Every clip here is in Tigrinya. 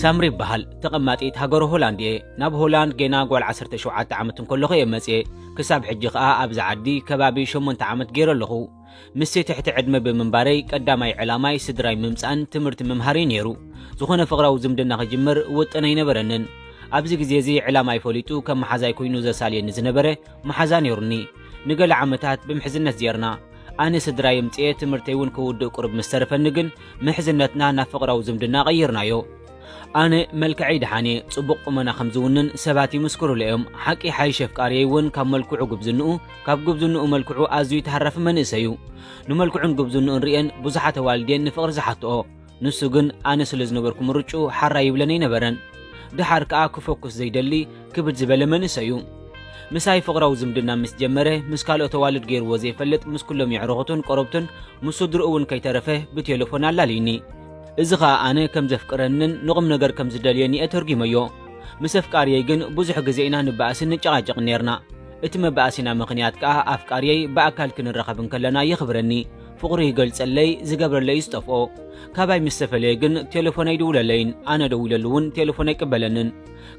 ሳምሪ ይበሃል ተቐማጢት ሃገረ ሆላንድ እየ። ናብ ሆላንድ ጌና ጓል ዓሰርተ ሸውዓተ ዓመት እንከለኹ እየ መጽየ። ክሳብ ሕጂ ከኣ ኣብዚ ዓዲ ከባቢ ሸሞንተ ዓመት ገይረ ኣለኹ። ምስቲ ትሕቲ ዕድመ ብምንባረይ ቀዳማይ ዕላማይ ስድራይ ምምጻእን ትምህርቲ ምምሃር እዩ ነይሩ። ዝኾነ ፍቕራዊ ዝምድና ክጅምር ውጥን ኣይነበረንን። ኣብዚ ግዜ እዚ ዕላማይ ፈሊጡ ከም መሓዛይ ኮይኑ ዘሳልየኒ ዝነበረ መሓዛ ነይሩኒ። ንገለ ዓመታት ብምሕዝነት ዜርና። ኣነ ስድራይ ኣምጺኤ ትምህርተይ እውን ክውድእ ቁሩብ ምስ ተረፈኒ ግን ምሕዝነትና ናብ ፍቕራዊ ዝምድና ቀይርናዮ። ኣነ መልክዐይ ደሓን እየ፣ ጽቡቕ ቁመና ከም ዝውንን ሰባት ይምስክሩለይ እዮም። ሓቂ ይሓይሽ ኣፍቃሪየይ እውን ካብ መልክዑ ጉብዝንኡ፣ ካብ ጉብዝንኡ መልክዑ ኣዝዩ ተሃራፊ መንእሰይ እዩ። ንመልክዑን ጉብዝንኡን ርእየን ብዙሓት ኣዋልድ እየን ንፍቕሪ ዝሓትኦ። ንሱ ግን ኣነ ስለ ዝነበርኩ ምርጭኡ ሓራ ይብለን ኣይነበረን። ድሓር ከኣ ክፈኩስ ዘይደሊ ክብድ ዝበለ መንእሰይ እዩ። ምሳይ ፍቕራዊ ዝምድና ምስ ጀመረ ምስ ካልኦት ኣዋልድ ገይርዎ ዘይፈልጥ ምስ ኩሎም የዕርኹቱን ቆረብቱን ምስ ስድርኡ እውን ከይተረፈ ብቴለፎን ኣላልዩኒ። እዚ ኸኣ ኣነ ከም ዘፍቅረንን ንቑም ነገር ከም ዝደልዮን እየ ተርጒመዮ። ምስ ኣፍቃርየይ ግን ብዙሕ ግዜ ኢና ንበኣስን ንጨቓጨቕን ኔርና። እቲ መበኣሲና ምኽንያት ከኣ ኣፍቃርየይ ብኣካል ክንራኸብ እንከለና የኽብረኒ፣ ፍቕሩ ይገልጸለይ ዝገብረለይ እዩ ዝጠፍኦ ካባይ ምስ ተፈለየ ግን ቴለፎን ኣይድውለለይን ኣነ ደዊለሉ እውን ቴለፎን ኣይቅበለንን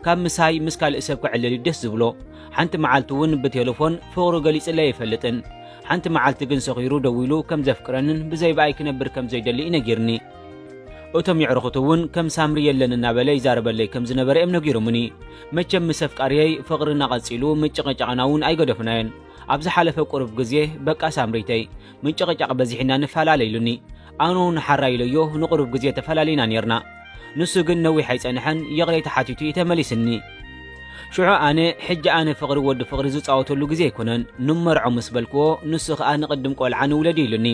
ካብ ምሳይ ምስ ካልእ ሰብ ክዕልል እዩ ደስ ዝብሎ ሓንቲ መዓልቲ እውን ብቴለፎን ፍቕሩ ገሊጽለይ ኣይፈልጥን ሓንቲ መዓልቲ ግን ሰኺሩ ደዊሉ ከም ዘፍቅረንን ብዘይ ብኣይ ክነብር ከም ዘይደሊ እዩ ነጊርኒ እቶም የዕርኹት እውን ከም ሳምሪ የለን እናበለ ይዛረበለይ ከም ዝነበረ እዮም ነጊሮምኒ መቸም ምስ ኣፍቃርየይ ፍቕርና ቐጺሉ ምጭቕጫቕና እውን ኣይገደፍናዮን ኣብ ዝሓለፈ ቁሩብ ግዜ በቃ ሳምሪተይ ምንጭቕጫቕ በዚሕና ንፈላለ ኢሉኒ። ኣነ ውን ሓራይ ኢለዮ ንቑሩብ ግዜ ተፈላሊና ኔርና። ንሱ ግን ነዊሕ ኣይጸንሐን ይቕሬታ ሓቲቱ እዩ ተመሊስኒ። ሽዑ ኣነ ሕጂ ኣነ ፍቕሪ ወዲ ፍቕሪ ዝጻወተሉ ግዜ ኣይኮነን ንመርዖ ምስ በልክዎ ንሱ ከኣ ንቕድም ቆልዓ ንውለድ ኢሉኒ።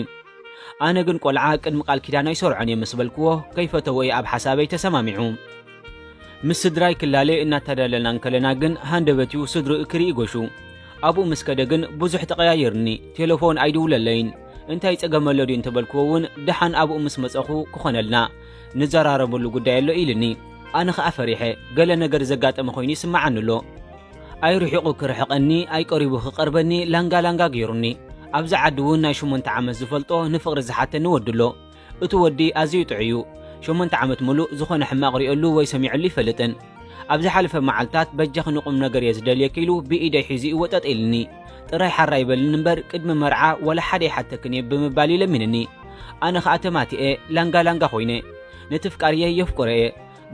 ኣነ ግን ቆልዓ ቅድሚ ቃል ኪዳን ኣይሰርዖን እየ ምስ በልክዎ ከይፈተዎ እየ ኣብ ሓሳበይ ተሰማሚዑ። ምስ ስድራይ ክላለ እናተዳለና እንከለና ግን ሃንደበት'ዩ ስድርኡ ክርኢ ጎሹ። ኣብኡ ምስ ከደ ግን ብዙሕ ተቐያይርኒ፣ ቴለፎን ኣይድውለለይን። እንታይ ጸገም ኣሎ ድዩ እንተበልክዎ እውን ደሓን ኣብኡ ምስ መጸኹ ክኾነልና ንዘራረበሉ ጉዳይ ኣሎ ኢልኒ። ኣነ ከኣ ፈሪሐ፣ ገለ ነገር ዘጋጠመ ኮይኑ ይስመዓኒ ኣሎ። ኣይርሒቑ ክርሕቐኒ ኣይቀሪቡ ክቐርበኒ ላንጋ ላንጋ ገይሩኒ። ኣብዚ ዓዲ እውን ናይ ሸሞንተ ዓመት ዝፈልጦ ንፍቕሪ ዝሓተኒ ወዲ ኣሎ። እቱ ወዲ ኣዝዩ ጥዑይ እዩ ሸሞንተ ዓመት ሙሉእ ዝኾነ ሕማቕ ሪኦሉ ወይ ሰሚዑሉ ኣይፈልጥን ኣብ ዝሓለፈ መዓልታት በጃኺ ንቑም ነገር እየ ዝደልየኪ ኢሉ ብኢደይ ሒዙ እዩ ወጠጥ ኢልኒ ጥራይ ሓር ኣይበልኒ እምበር ቅድሚ መርዓ ዋላ ሓደ ይሓተክን እየ ብምባል እዩ ለሚንኒ ኣነ ኸኣ ተማቲኤ ላንጋ ላንጋ ኮይነ ነቲ ፍቃርየይ የፍቅሮ እየ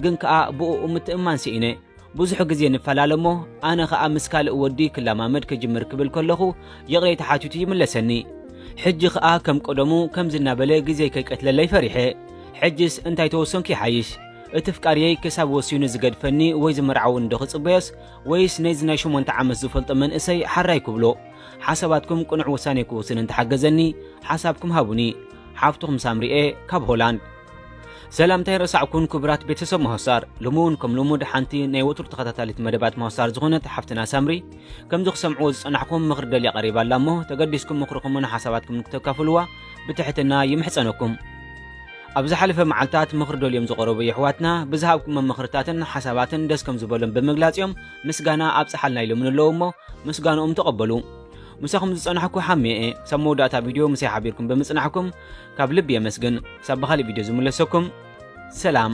ግን ከኣ ብኡኡ ምትእምማን ሲኢነ ብዙሕ ግዜ ንፈላለ እሞ ኣነ ኸኣ ምስ ካልእ ወዲ ክለማመድ ክጅምር ክብል ከለኹ ይቕሬታ ሓቲቱ ይምለሰኒ። ሕጂ ኸኣ ከም ቀደሙ ከምዚ እናበለ ግዜይ ከይቀትለለይ ፈሪሐ። ሕጅስ እንታይ ተወሰንኩ ይሓይሽ? እቲ ኣፍቃርየይ ክሳብ ወሲኑ ዝገድፈኒ ወይ ዝምርዓውኒ ዶ ክጽበዮስ ወይስ ነዚ ናይ ሸሞንተ ዓመት ዝፈልጦ መንእሰይ ሓራይ ክብሎ? ሓሳባትኩም ቅኑዕ ውሳኔ ክውስን እንተሓገዘኒ ሓሳብኩም ሃቡኒ። ሓፍትኹም ሳምሪ'የ ካብ ሆላንድ። ሰላምታይ ረሳዕኩን ክቡራት ቤተሰብ መሆሳር ሎሚ እውን ከም ልሙድ ሓንቲ ናይ ወትሩ ተኸታታሊት መደባት መሆሳር ዝኾነት ሓፍትና ሳምሪ ከምዚ ክሰምዕዎ ዝጸናሕኩም ምኽሪ ደልያ ቀሪባ ኣላ እሞ ተገዲስኩም ምኽርኹምን ሓሳባትኩም ንክተካፍልዋ ብትሕትና ይምሕጸነኩም ኣብ ዝሓለፈ መዓልታት ምኽሪ ደልዮም ዝቐረቡ የሕዋትና ብዝሃብኩሞ ምኽርታትን ሓሳባትን ደስ ከም ዝበሎም ብምግላጽ እዮም ምስጋና ኣብጽሓልና ኢሎምን ኣለዉ እሞ ምስጋንኦም ተቐበሉ ምሳኹም ዝጸናሕኩ ሓሚየ እየ ክሳብ መወዳእታ ቪድዮ ምሳይ ሓቢርኩም ብምጽናሕኩም ካብ ልቢ የመስግን ክሳብ ብኻሊእ ቪድዮ ዝምለሰኩም ሰላም